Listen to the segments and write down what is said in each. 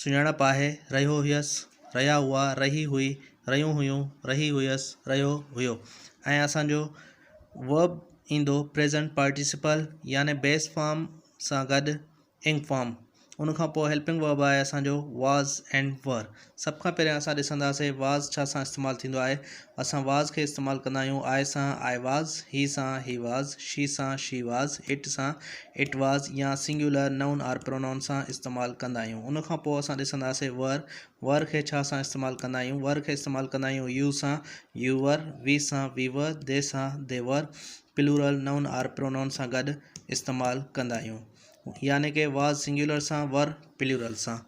سڃاڻپ آهي، رهيو هيس، رهيا هئا، رهي هئي، رهيون هيون، رهي هيس، رهيو هيو ۽ اسان جو Verb ايندو Present Participle يعني Base Form سان گڏ Ing Form ان کان پوء Helping Verb آهي اسان جو Was and Were سڀ کان پهريان اسان ڏسنداسين Was ڇا سان استعمال ٿيندو آهي اسان واز کي استعمال ڪندا آهيون، آء سان آء واز، هي سان هي واز، شي سان شي واز، اٽ سان اٽ واز يا سنگيولر نئون آر پرونائون سان استعمال ڪندا آهيون. ان کان پوء اسان ڏسنداسين ور، ور کي ڇا سان استعمال ڪندا آهيون؟ ور کي استعمال ڪندا آهيون يو سان، يو ور، وي سان، وي ور، دي سان، they were, plural noun or pronoun سان گڏ استعمال ڪندا آهيون. يعني ڪه واز سنگيولر سان، ور پلورل سان.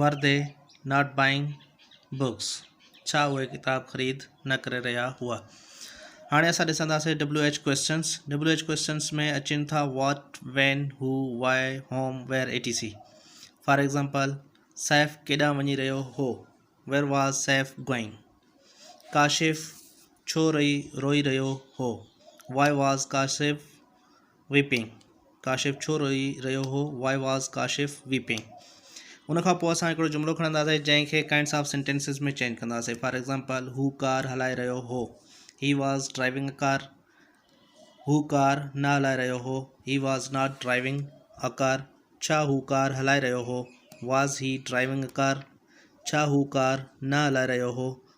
Were they not buying books ڇا اهي ڪتاب خريد نه ڪري رهيا هئا هاڻي اسان ڏسنداسي W H questions W H questions ۾ اچن ٿا what when who why whom where E T C for example Saif ڪيڏانهن وڃي رهيو هو where was Saif going Kashif ڇو رئي روئي رهيو هو why was Kashif weeping Kashif ڇو روئي رهيو هو Why was Kashif weeping ان کان پوء اسان هڪڙو جملو کڻنداسين جنهن کي ڪائنڊس آف سينٽينسز ۾ چينج ڪنداسين فار ايگزامپل هو ڪار هلائي رهيو هو he was driving a car هو ڪار نه هلائي رهيو هو he was not driving a car ڇا هو ڪار هلائي رهيو هو was he driving a car ڇا هو ڪار نه هلائي رهيو هو